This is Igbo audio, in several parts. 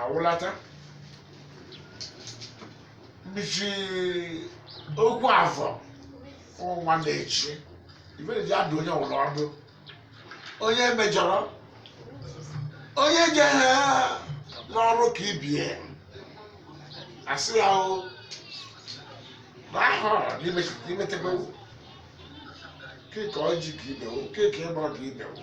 awụlata mbichi okwu afọ ụwa na-echi ibere ji adụ onye ọbụla ọdụ onye mejọrọ onye je ha n'ọrụ ka ibe asị ya o na ahụ imetebe keke ọjị ka ibewo keke ịgbọ ka ibewo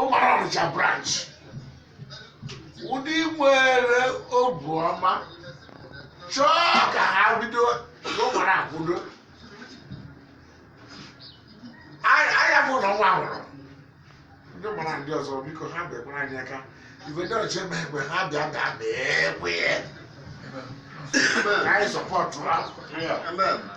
ụmara Ọnịcha branch ndị nwere obu ọma chọọ ka ha bido ụmara akwụdo anya bụ na ọnwa nwụrụ ndị gbara ndị ọzọ biko ha bịakwara anyị aka igwe ndị ọchịchị eme egbe ha bịa bịa bịa ekwe anyị sọpụta ha Amen.